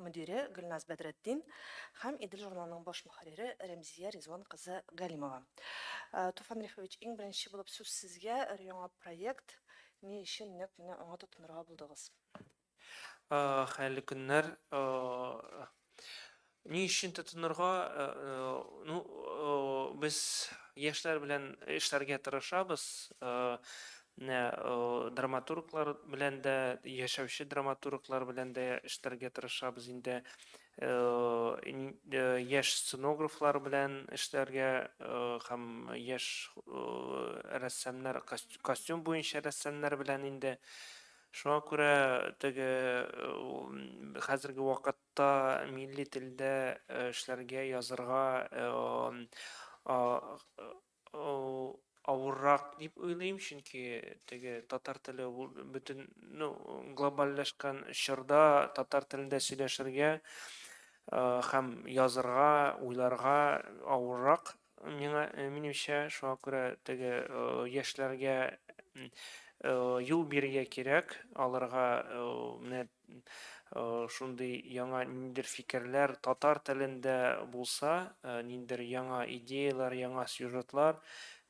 мөдире Гөлназ Бәдретдин һәм Идел журналының баш мөхәррире Рәмзия Ризван кызы Галимова. Туфан Рифович, иң беренче булып сүз сезгә, өр-яңа проект, ни өчен нәкъ менә аңа тотынырга булдыгыз? Хәерле көннәр. Ни өчен тотынырга? Ну, без яшьләр белән эшләргә тырышабыз. Менә драматурглар белән дә, яшәүче драматурглар белән дә эшләргә тырышабыз инде. Яшь сценографлар белән эшләргә һәм яшь рәссамнар, костюм буенча рәссамнар белән инде. Шуңа күрә теге хәзерге вакытта милли телдә эшләргә, язырга авыррак дип уйлыйм, чөнки теге татар теле ул бөтен ну, глобальләшкән чорда татар телендә сөйләшергә һәм язырга, уйларга авыррак миңа минемчә, шуңа күрә теге яшьләргә юл бирергә кирәк, аларга менә шундый яңа ниндидер фикерләр татар телендә булса, ниндидер яңа идеяләр, яңа сюжетлар,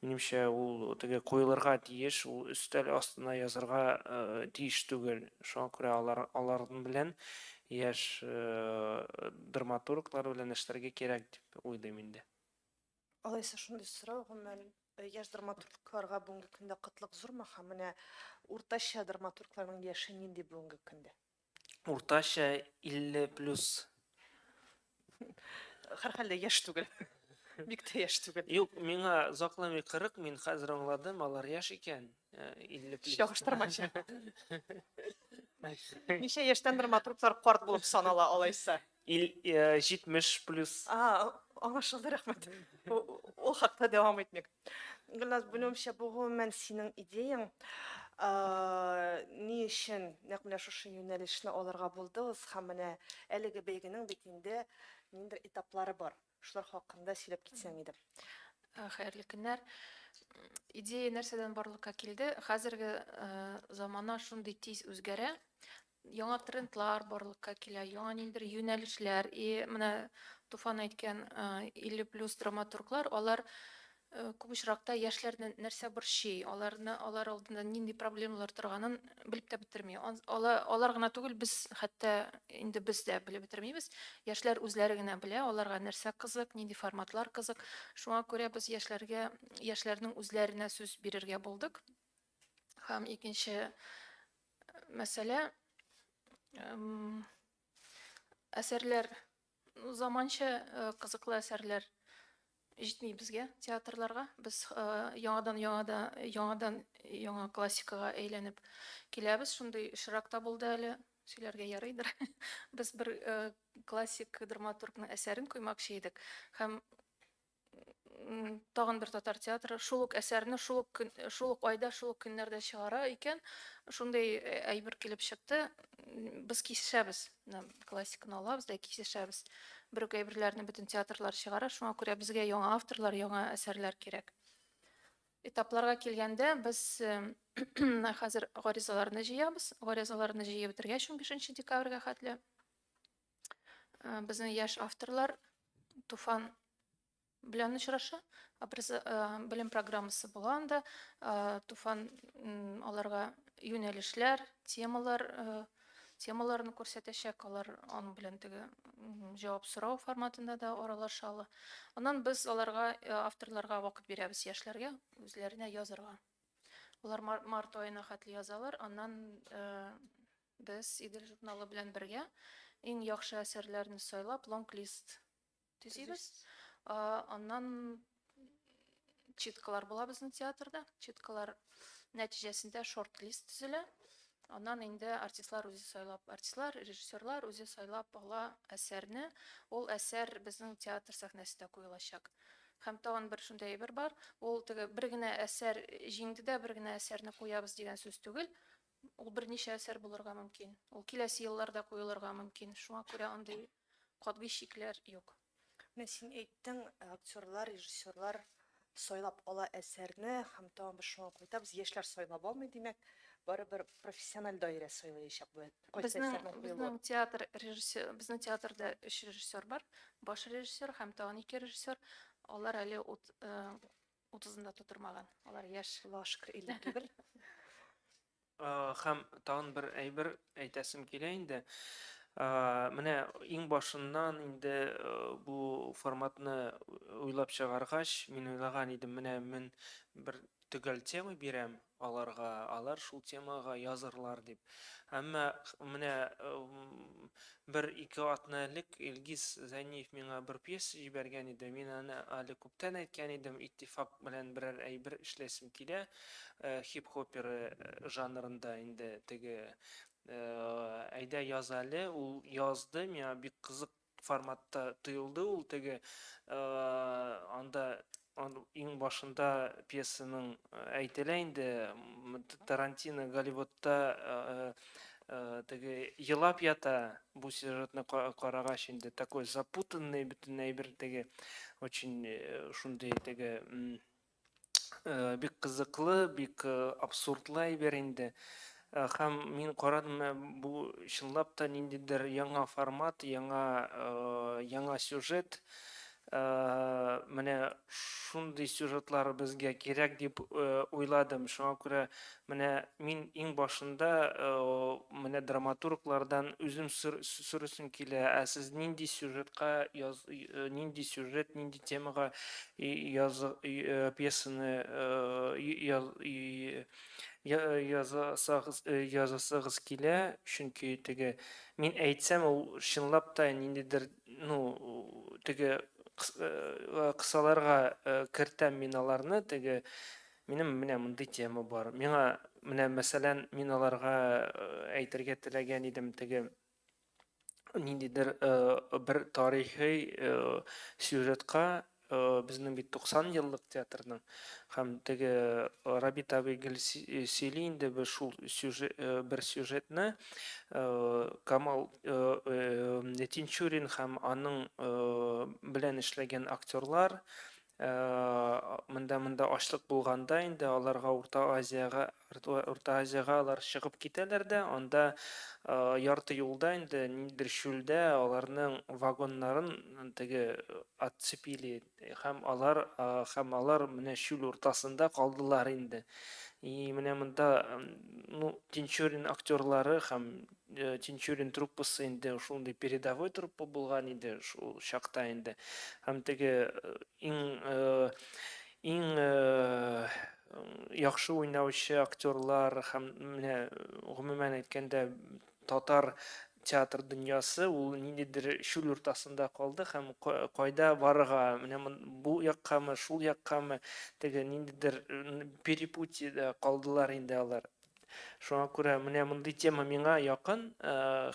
минемчә, ул теге куелырга тиеш, ул өстәл астына язырга тиеш түгел. Шуңа күрә алар аларның белән яшь драматурглар белән эшләргә кирәк дип уйлыйм инде. Алайса шундый сорау, гомумән, яшь драматургларга бүгенге көндә кытлык зурмы һәм менә уртача драматургларның яше нинди бүгенге көндә? Уртача 50 плюс. Һәрхәлдә яшь түгел. Бик тә яшь түгел. Юк, миңа закламый 40, мин хәзер аңладым, алар яшь икән. 50 плюс. Чагыштырмача. Ничә яшьтән драматурглар карт булып санала алайса? 70 плюс. А, аңлашылды, рәхмәт. Ул хакта дәвам итмик. Гөлназ, белүемчә, бу гомумән синең идеяң. Ни өчен нәкъ менә шушы юнәлешне алырга булдыгыз һәм менә әлеге бәйгенең бит инде ниндидер этаплары бар. Шулар хакында сөйләп китсәң иде. Э, хәерле көннәр. Идея нәрсәдән барлыкка килде? Хәзерге э, замана шундый тиз үзгәрә. Яңа трендлар барлыкка килә, яңа ниндидер юнәлешләр. И менә Туфан әйткән 50 э, плюс драматурглар, алар Э, күп очракта яшьләрне нәрсә борчый, аларны алар алдында нинди проблемалар торганын белеп тә бетерми. Алар, алар гына түгел, без хәтта инде без дә белеп бетермибез. Яшьләр үзләре генә белә, аларга нәрсә кызык, нинди форматлар кызык. Шуңа күрә без яшьләргә, яшьләрнең үзләренә сүз бирергә булдык. Һәм икенче э, мәсьәлә әсәрләр Заманча кызыклы әсәрләр җитми безгә театрларга. Без яңадан-яңада, яңадан-яңа классикага әйләнеп киләбез. Шундый очрак та булды әле, сөйләргә ярыйдыр. Без бер классик драматургның әсәрен куймакчы идек һәм тагын бер татар театры шул ук әсәрне шул ук шул ук айда шул ук көннәрдә чыгара икән шундый э, әйбер килеп чыкты без кисешәбез классиканы алабыз да кисешәбез бер үк әйберләрне бөтен театрлар чыгара шуңа күрә безгә яңа авторлар яңа әсәрләр кирәк этапларга килгәндә без э, хәзер гаризаларны җыябыз гаризаларны җыеп бетергәч 15 декабрьгә хәтле Безнең яшь авторлар Туфан белән очраша, белем программасы була анда. Туфан аларга юнәлешләр, темалар, темаларны күрсәтәчәк, алар аның белән теге җавап сорау форматында да аралаша ала. Аннан без аларга авторларга вакыт бирәбез яшьләргә үзләренә язарга. Алар март аена хәтле язалар, аннан Без Идел журналы белән бергә иң яхшы әсәрләрне сайлап, лонг-лист төзибез. Аннан читкалар була безнең театрда. Читкалар нәтиҗәсендә шорт-лист төзелә. Аннан инде артистлар үзе сайлап, артистлар, режиссерлар үзе сайлап ала әсәрне. Ул әсәр безнең театр сәхнәсендә куелачак. Һәм тагын бер шундый әйбер бар. Ул теге бер генә әсәр җиңде дә бер генә әсәрне куябыз дигән сүз түгел. Ул берничә әсәр булырга мөмкин. Ул киләсе елларда куелырга мөмкин. Шуңа күрә андый катгый чикләр юк. Менә син әйттең, актерлар, режиссерлар сайлап ала әсәрне һәм тагын без шуңа кайтабыз, яшьләр сайлап алмый, димәк, барыбер профессиональ даирә сайлаячак бу кайсы әсәрнең куелуын. Безнең театр режиссер, безнең театрда өч режиссер бар, баш режиссер һәм тагын ике режиссер. Алар әле Утызын да тутырмаган. Алар яшь. Аллага шөкер, 51. Һәм тагын бер әйбер әйтәсем килә инде. Менә иң башыннан инде бу форматны уйлап чыгаргач, мин уйлаган идем, менә мин бер төгәл тема бирәм, аларга, алар шул темага язырлар дип. Әмма менә бер ике атна элек Илгиз Зәниев миңа бер пьеса җибәргән иде. Мин аны әле күптән әйткән идем, иттифак белән берәр әйбер эшләсем килә, хип-хопер жанрында инде теге. Әйдә яз әле, ул язды, миңа бик кызык форматта тоелды ул теге анда иң башында пьесаның әйтелә инде тарантино голливудта Э, теге елап ята бу сюжетны карагач инде такой запутанный бөтен әйбер теге очень э, шундый теге Э, бик кызыклы, бик э, абсурдлы әйбер инде. Э, һәм мин карадым, бу чынлап та ниндидер яңа формат, яңа яңа сюжет. Менә шундый сюжетлар безгә кирәк дип уйладым. Шуңа күрә Менә мин иң башында менә драматурглардан үзем сорыйсым килә, ә сез нинди сюжетка яз, нинди сюжет, нинди темага яз, пьесаны яз, язасагыз, язасагыз килә, чөнки теге мин әйтсәм ул чынлап та ниндидер, ну, теге кысаларга кертәм мин аларны, теге Минем менә мондый тема бар. Миңа менә мәсәлән, мин аларга э, әйтергә теләгән идем теге ниндидер э, бер тарихи э, сюжетка безнең бит 90 еллык театрның һәм теге Рабит абый гел сөйли инде бер шул сюжет бер сюжетны Камал Тинчурин һәм аның белән эшләгән актерлар Ә монда монда ачлык булганда инде аларга Урта Азиягә Урта Азиягә алар чыгып китәләр дә, анда ярты юлда инде ниндидер чүлдә аларның вагоннарын теге отцепили һәм алар һәм алар менә чүл уртасында калдылар инде. И менә монда ну Тинчурин актерлары һәм Тинчурин труппасы инде шундый передовой труппа булган иде шул чакта инде. Һәм теге иң иң яхшы уйнаучы актерлар һәм менә гомумән әйткәндә татар театр дөньясы ул ниндидер чүл уртасында калды һәм кайда барырга менә бу яккамы шул яккамы теге ниндидер перепутьеда калдылар инде алар Шуңа күрә менә мондый тема миңа якын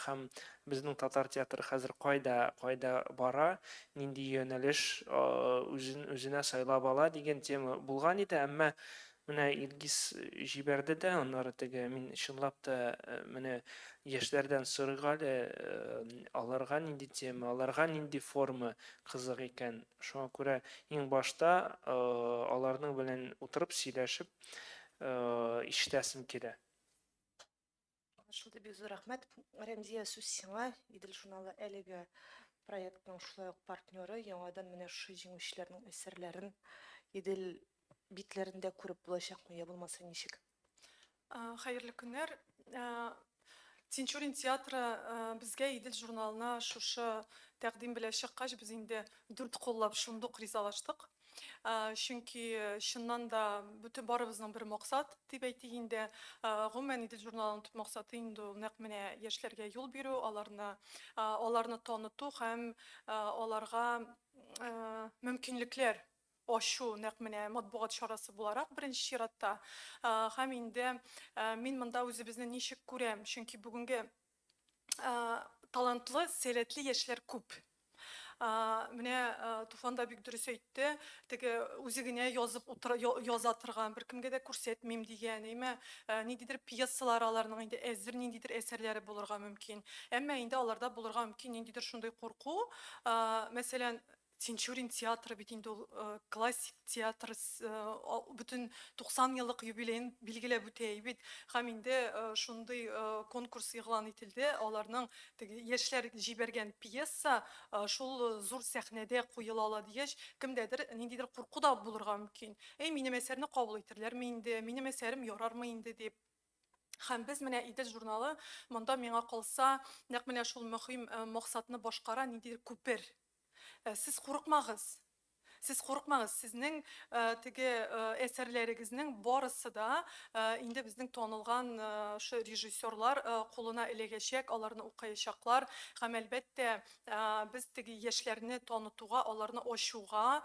һәм безнең татар театры хәзер кайда, кайда бара, нинди юнәлеш үзен үзенә сайлап ала дигән тема булган иде, әмма менә Илгиз җибәрде дә, аннары теге мин чынлап та менә яшьләрдән сорыйк әле аларга нинди тема, аларга нинди форма кызык икән. Шуңа күрә иң башта аларның белән утырып сөйләшеп ишетәсем килә. Аңлашылды, бик зур рәхмәт. Рәмзия, сүз сиңа. Идел журналы әлеге проектның шулай ук партнеры. Яңадан менә шушы җиңүчеләрнең әсәрләрен Идел битләрендә күреп булачакмы, я булмаса ничек? Хәерле көннәр. Тинчурин театры безгә Идел журналына шушы тәкъдим белән чыккач, без инде дүрт куллап шундук ризалаштык. Чөнки чыннан да бөтен барыбызның бер максат дип әйтик инде. Гомумән, Идел журналының төп максаты инде ул нәкъ менә яшьләргә юл бирү, аларны, аларны таныту һәм аларга мөмкинлекләр Ачу, нәкъ менә матбугат чарасы буларак, беренче чиратта. Һәм инде мин монда үзебезне ничек күрәм, чөнки бүгенге талантлы, сәләтле яшьләр күп. Менә Туфан да бик дөрес әйтте, теге үзе генә язып утыра, яза торган, беркемгә дә күрсәтмим дигән, әйме, ниндидер пьесалар аларның инде әзер, ниндидер әсәрләре булырга мөмкин. Әмма инде аларда булырга мөмкин ниндидер шундый курку, мәсәлән, Тинчурин театры бит инде ул классик театр, бөтен 90 еллык юбилеен билгеләп үтә бит. Һәм инде шундый конкурс игълан ителде, аларның теге яшьләр җибәргән пьеса шул зур сәхнәдә куела ала дигәч, кемдәдер ниндидер курку да булырга мөмкин. Әй, минем әсәрне кабул итәрләрме инде, минем әсәрем ярармы инде дип. Һәм без менә Идел журналы монда миңа калса нәкъ менә шул мөһим максатны башкара, ниндидер күпер. Сез курыкмагыз. Сез курыкмагыз, сезнең теге әсәрләрегезнең барысы да инде безнең танылган шул режиссерлар кулына эләгәчәк, аларны укыячаклар һәм әлбәттә Без теге яшьләрне танытуга, аларны ачуга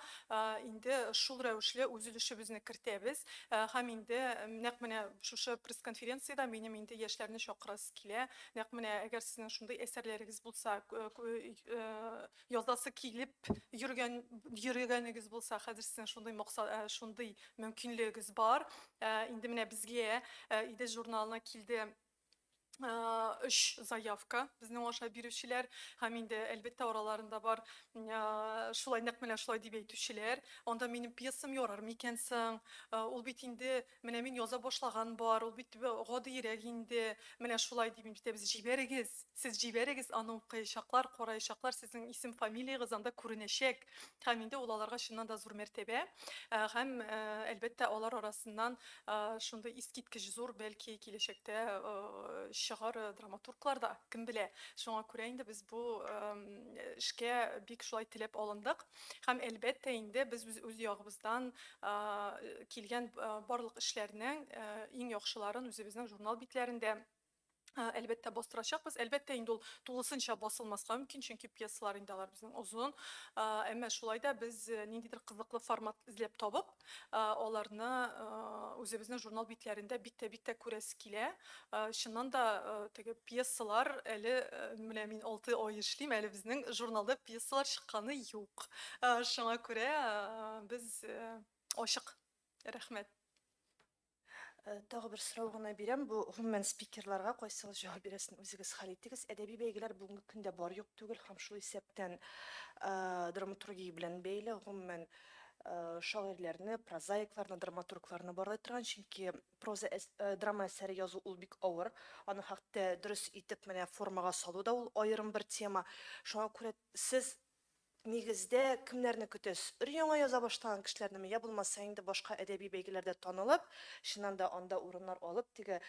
инде шул рәвешле үз өлешебезне кертәбез. Һәм инде нәкъ менә шушы пресс-конференциядә минем инде яшьләрне чакырасы килә. Нәкъ менә әгәр сезнең шундый әсәрләрегез булса, язасы килеп йөргән, йөргәнегез булса, хәзер сезнең шундый максат, шундый мөмкинлегегез бар. Инде менә безгә Идел журналына килде үч заявка безнең аша бирүчеләр һәм инде әлбәттә араларында бар шулай нәкъ менә шулай дип әйтүчеләр анда минем пьесам ярар микән соң ул бит инде менә мин яза башлаган бар ул бит гадиерәк инде менә шулай дип әйтәбез җибәрегез сез җибәрегез аны укыячаклар караячаклар сезнең исем фамилиягез анда күренәчәк Һәм инде ул аларга чыннан да зур мәртәбә. Һәм, әлбәттә, алар арасыннан шундый искиткеч зур, бәлки, киләчәктә чыгар драматурглар да, кем белә. Шуңа күрә инде без бу эшкә бик шулай теләп алындык. Һәм, әлбәттә, инде без үз ягыбыздан килгән барлык эшләрнең иң яхшыларын үзебезнең журнал битләрендә Әлбәттә, бастырачакбыз. Әлбәттә, инде ул тулысынча басылмаска мөмкин, чөнки пьесалар инде алар безнең озын. Әмма шулай да без ниндидер кызыклы формат эзләп табып, аларны үзебезнең журнал битләрендә бик тә бик тә күрәсе килә. Чыннан да, теге пьесалар әле менә мин алты ай эшлим, әле безнең журналда пьесалар чыкканы юк. Шуңа күрә без ачык. Рәхмәт. Э, тагы бер сорау гына бирәм. Бу гомумән спикерларга кайсыгыз җавап бирәсен үзегез хәл итегез. Әдәби бәйгеләр бүгенге көндә бар юк түгел һәм шул исәптән э, драматургия белән бәйле гомумән э, шагыйрьләрне, прозаикларны, драматургларны барлай торган, чөнки проза драма әсәре язу ул бик авыр. Аны хәтта дөрес итеп менә формага салу да ул аерым бер тема. Шуңа күрә сез Нигездә, кемнәрне көтәсез? Өр-яңа яза башлаган кешеләрнеме, я булмаса инде башка әдәби бәйгеләрдә танылып, чыннан да анда урыннар алып, теге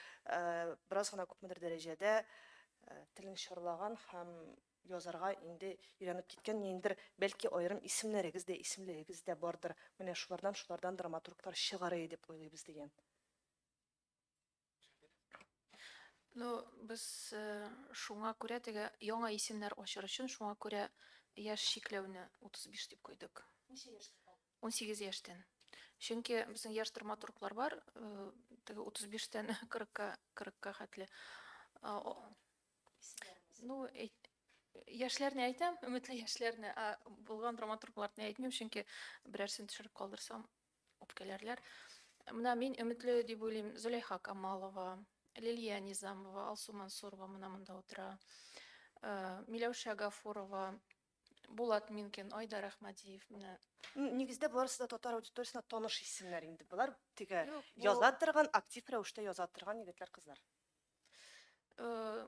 бераз гына күпмедер дәрәҗәдә телен чарлаган һәм язарга инде өйрәнеп киткән ниндидер, бәлки аерым исемнәрегез дә, исемлегегез дә бардыр, менә шулардан, шулардан драматурглар чыгарый дип уйлыйбыз, дигән. Ну, без э, шуңа күрә теге яңа исемнәр ачыр өчен шуңа күрә яшь чикләүне 35 дип куйдык. 18 яшьтән. Чөнки безнең яшь драматурглар бар, э, теге 35-тән 40-ка 40-ка хәтле. А, о- Ну, әйт- яшьләрне әйтәм, өметле яшьләрне, ә булган драматургларны әйтмим, чөнки берәрсен төшереп калдырсам, үпкәләрләр. Менә мин өметле дип уйлыйм, Зөләйха Камалова, Лилия Низамова, Алсу Мансурова менә монда утыра. Э, Миләүшә Гафурова, Булат Минкин, Айдар Әхмәдиев менә. Нигездә барысы да татар аудиториясенә таныш исемнәр инде. Болар теге яза торган, актив рәвештә яза торган егетләр, кызлар. Э,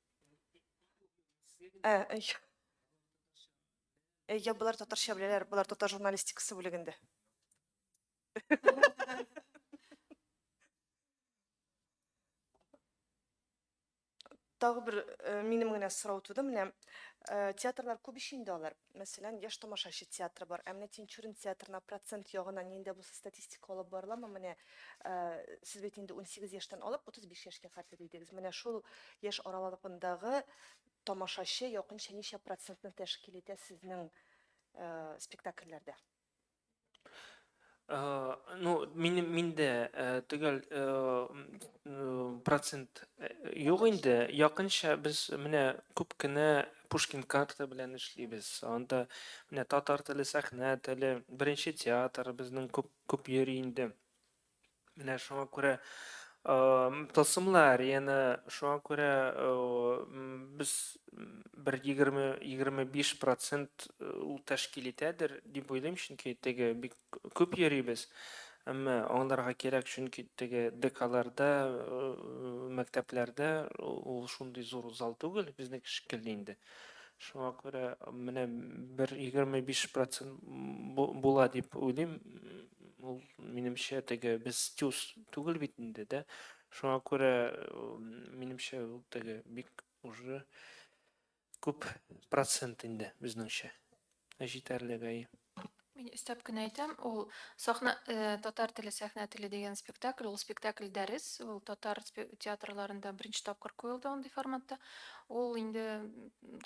Ә, әй. Әй, я, болар татарча беләләр, болар татар журналистикасы бүлегендә. Тагы бер э, минем генә сорау туды, менә э, театрлар күп ич инде алар. Мәсәлән, Яшь тамашачы театры бар. Ә менә Тинчурин театрына процент ягыннан нинди дә булса статистика алып барыламы? Менә сез бит инде унсигез яшьтән алып утыз биш яшькә кадәр дидегез. Менә шул яшь аралыгындагы тамашачы якынча ничә процентны тәшкил итә сезнең спектакльләрдә? Э, ну минем миндә э, төгәл э, процент юк инде якынча без менә күп кенә пушкин карта белән эшлибез анда менә татар теле сәхнә теле беренче театр безнең күп күп йөри инде Менә шуңа күрә тылсымлар, яна шуңа күрә без бер 20-25% ул тәшкил итәдер дип уйлыйм, чөнки теге бик күп йөрибез. Әмма аңларга кирәк, чөнки теге ДКларда, мәктәпләрдә ул шундый зур зал түгел, безнеке шикелле инде. Шуңа күрә менә бер 25% була дип уйлыйм, Ул минемчә теге без тюз түгел бит инде, дә. Шуңа күрә минемчә ул теге бик уже күп процент инде безнеңчә. Ә җитәрлек әйе. Мин өстәп кенә әйтәм, ул сахна э, татар теле, сәхнә теле дигән спектакль, ул спектакль дәрес, ул татар театрларында беренче тапкыр куелды андый форматта. Ул инде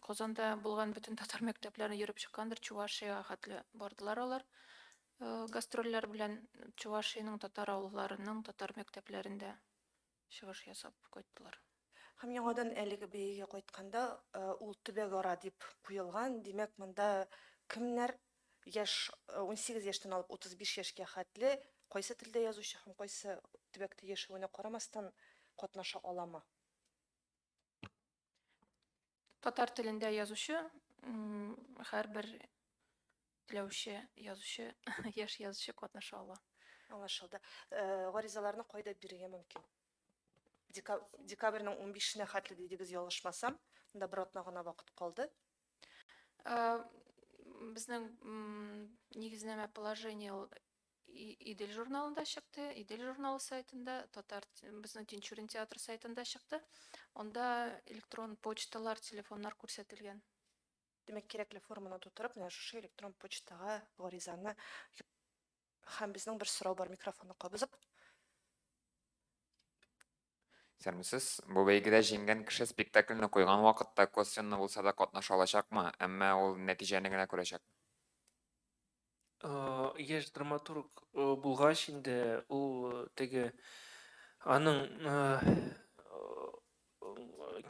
Казанда булган бөтен татар мәктәпләренә йөреп чыккандыр, Чувашия хәтле бардылар алар. Э, гастрольләр белән Чувашиянең татар авылларының татар мәктәпләрендә чыгыш ясап кайттылар. Һәм яңадан әлеге бәйгегә кайтканда э, ул төбәгара дип куелган. Димәк, монда кемнәр яшь 18 э, яшьтән алып 35 яшькә хәтле кайсы телдә язучы һәм кайсы төбәктә яшәвенә карамастан катнаша аламы? Татар телендә язучы һәрбер теләүче язучы, яшь язучы катнаша ала. Аңлашылды. Э, гаризаларны кайда бирергә мөмкин? Декабрьнең 15-нә хәтле дидегез, ялгышмасам. Монда бер атна гына вакыт калды. Э, безнең нигезнәмә положение Идел журналында чыкты, Идел журналы сайтында, татар безнең Тинчурин театр сайтында чыкты. Анда электрон почталар, телефоннар күрсәтелгән. Димәк, кирәкле форманы тутырып, менә шушы электрон почтага гаризаны һәм безнең бер сорау бар микрофонны кабызып. Исәнмесез! Бу бәйгедә җиңгән кеше спектакльне куйган вакытта косвенно булса да катнаша алачакмы, әмма ул нәтиҗәне генә күрәчәк? Яшь драматург булгач инде ул теге аның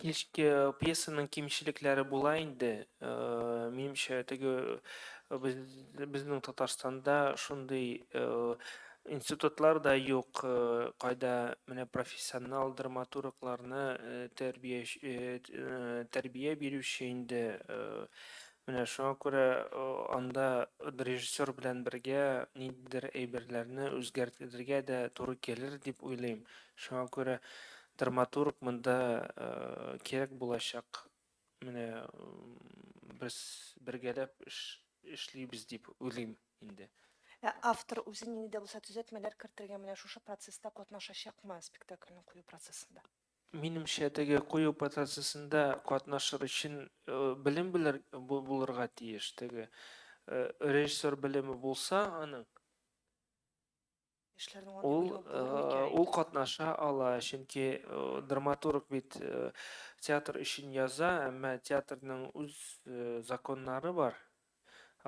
пьесаның кимчелекләре була инде. Минемчә, теге безнең Татарстанда шундый Институтлар да юк, кайда менә профессионал драматургларны тәрбия бирүче инде. Менә шуңа күрә анда режиссер белән бергә ниндидер әйберләрне үзгәртергә дә туры килер дип уйлыйм. Шуңа күрә драматург монда кирәк булачак. Менә без бергәләп эш эшлибез дип уйлыйм инде. Ә автор үзе нинди дә булса төзәтмәләр кертергә менә шушы процесста катнашачакмы спектакльне кую процессында? Минемчә, теге кую процессында катнашыр өчен белем белер булырга тиеш. Теге режиссер белеме булса аның, Ул, ул катнаша ала, чөнки драматург бит театр өчен яза, әмма театрның үз законнары бар.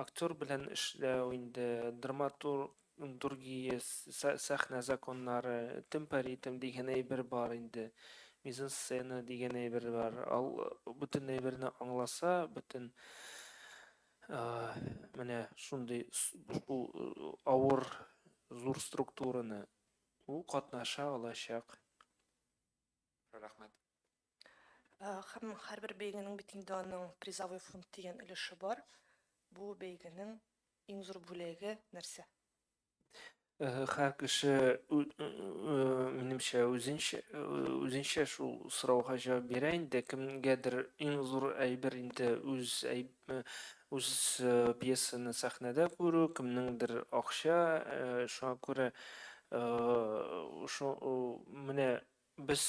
Актер белән эшләү инде драматур дургия сә сәхнә законнары, темпоритм дигән әйбер бар инде, мизансцена дигән әйбер бар. Ал бөтен әйберне аңласа, бөтен Менә шундый шул авыр, зур структураны ул катнаша алачак. Рәхмәт. Һәм һәрбер бәйгенең бит инде аның призовой фонд дигән өлеше бар. Бу бәйгенең иң зур бүләге нәрсә? Һәр кеше, минемчә, үзенчә, үзенчә шул сорауга җавап бирә инде. Кемгәдер иң зур әйбер инде үз үз пьесаны сәхнәдә күрү, кемнеңдер акча, шуңа күрә шо менә Без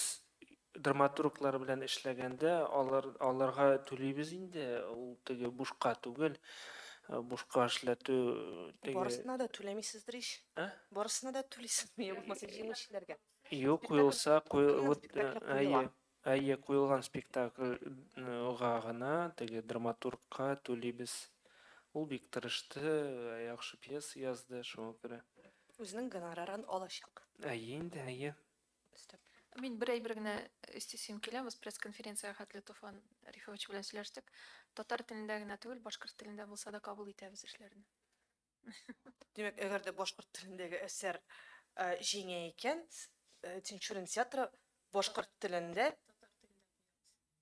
драматурглар белән эшләгәндә, алар, аларга түлибез инде, ул теге бушка түгел, бушка эшләтү теге. Барысына да түләмисездер ич. Ә? Барысына да түлисезме, я булмаса җиңүчеләргә? Юк, куелса, куелып, әйе, әйе, куелган спектакльга гына, теге драматургка түлибез. Ул бик тырышты, яхшы пьеса язды, шуңа күрә. Үзенең гонорарын алачак. Әйе инде, әйе. Өстәп. Мин бер әйбер генә өстисем килә, без пресс-конференциягә хәтле Туфан Рифович белән сөйләштек. Татар телендә генә түгел, башкорт телендә булса да кабул итәбез эшләрне. Димәк, әгәр дә башкорт телендәге әсәр җиңә икән, Тинчурин театры башкорт телендә,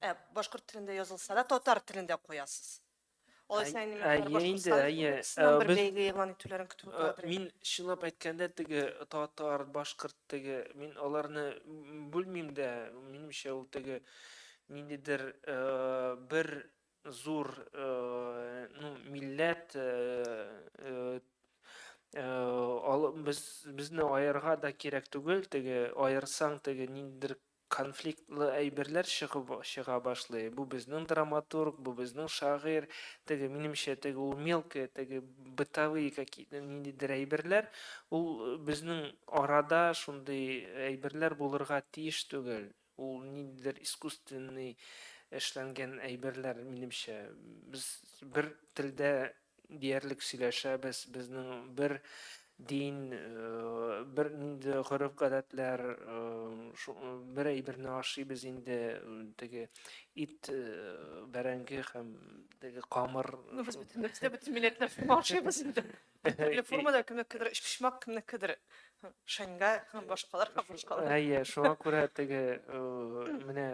Ә башкорт телендә язылса да, татар телендә куясыз. Алай Әй- синең әйе инде, Башкортстан әйе. Ә, Республикасыннан бер без- бәйге игълан итүләрен көтеп Э, утырабыз. Мин чынлап әйткәндә теге татар, башкорт теге мин аларны м, бүлмим дә. Минемчә ул теге ниндидер э, бер зур э, ну, милләт э, э, э, алы- без безне аерга да кирәк түгел. Теге аерсаң теге ниндидер Конфликтлы әйберләр чыгып чыга башлый, бу безнең драматург, бу безнең шагыйрь, теге, минемчә, теге ул мелкое, теге бытовые какие-то ниндидер әйберләр, ул безнең арада шундый әйберләр булырга тиеш түгел, ул ниндидер искусственный эшләнгән әйберләр, минемчә. Без бер телдә диярлек сөйләшәбез, безнең бер дин, бер инде гореф-гадәтләр, бер әйберне ашыйбыз инде, теге ит, бәрәңге һәм теге камыр. Ну, без бөтен нәрсә, бөтен милләтләр ашыйбыз инде. Төрле формада кемнекедер өчпочмак, кемнекедер шәңгә һәм башкалар һәм башкалар. Әйе, шуңа күрә теге менә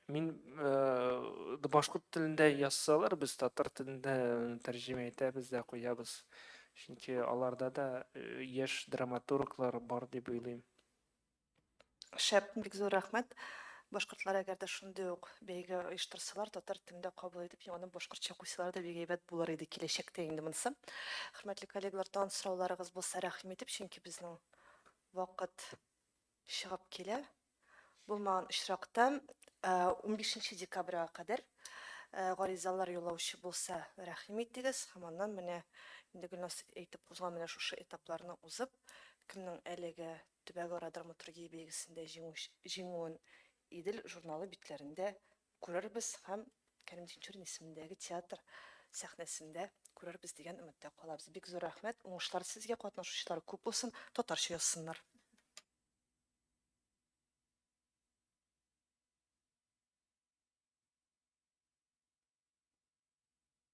Мин э, башкорт телендә язсалар, без татар телендә э, тәрҗемә итәбез дә куябыз. Чөнки аларда да э, яшь драматурглар бар дип уйлыйм. Шәп, бик зур рәхмәт. Башкортлар әгәр дә шундый ук бәйге оештырсалар, татар телендә кабул итеп, яңадан башкортча куйсалар да бик әйбәт булыр иде киләчәктә инде монысы. Хөрмәтле коллегалар, тагын сорауларыгыз булса, рәхим итеп, чөнки безнең вакыт чыгып килә. Булмаган очракта, унбишенче декабрьга кадәр гаризалар юллаучы булса, рәхим итегез һәм аннан менә инде Гөлназ әйтеп узган менә шушы этапларны узып, кемнең әлеге төбәгара драматургия бәйгесендә җиңүен Идел журналы битләрендә күрербез һәм Кәрим Тинчурин исемендәге театр сәхнәсендә күрербез дигән өметтә калабыз. Бик зур рәхмәт, уңышлар сезгә, катнашучылар күп булсын, татарча язсыннар.